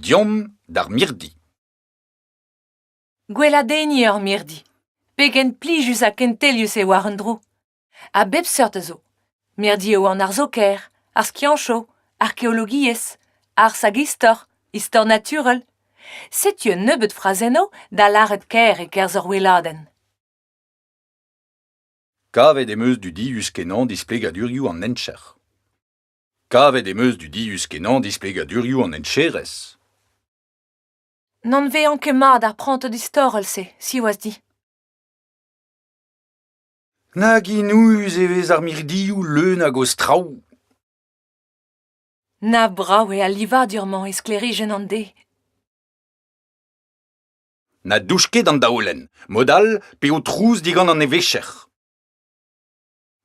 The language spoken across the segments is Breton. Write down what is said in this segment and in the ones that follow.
Deomp d'ar mirdi. Gweladenniñ ur mirdi. Pegen plijus ha kentelius eo war un dro. A bep seurt a zo. Mirdi eo an arzoker, ar skiancho, arkeologiezh, arz hag istor, istor naturel. Setu un nebeud frazennoù da lâret kaer e-kerzh ur weladenn. Kavet em eus dudius-kenañ displegadurioù an hencher. Kavet em eus dudius-kenañ displegadurioù an hencherez. N'anvean ket mat ar prantad istorel-se, siwazh dit. Nag inouüs e vez ar mirdioù leun hag o straoù! Na brav eo al livadur-mañ e sklêrijenn an deiz. Na douch ket an daolenn, mod all pe ho trouz digant an evezhier.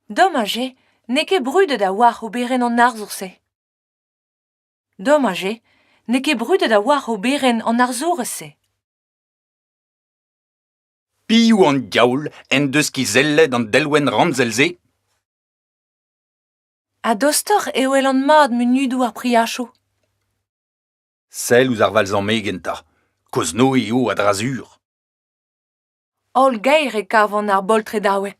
Domaj eo n'eo ket brudet a-walc'h oberenn an arzour-se. Domaj eo n'eo ket brudet a-walc'h oberenn an arzourez-se. Piv an diaoul en deus kizellet an delwenn ramzel-se? Ha dostoc'h e welan mat munudoù ar priachoù. Sell ouzh ar valzamegien 'ta, kozh-noe eo a-dra-sur. Holl gaer e kavan ar boltredaoueg.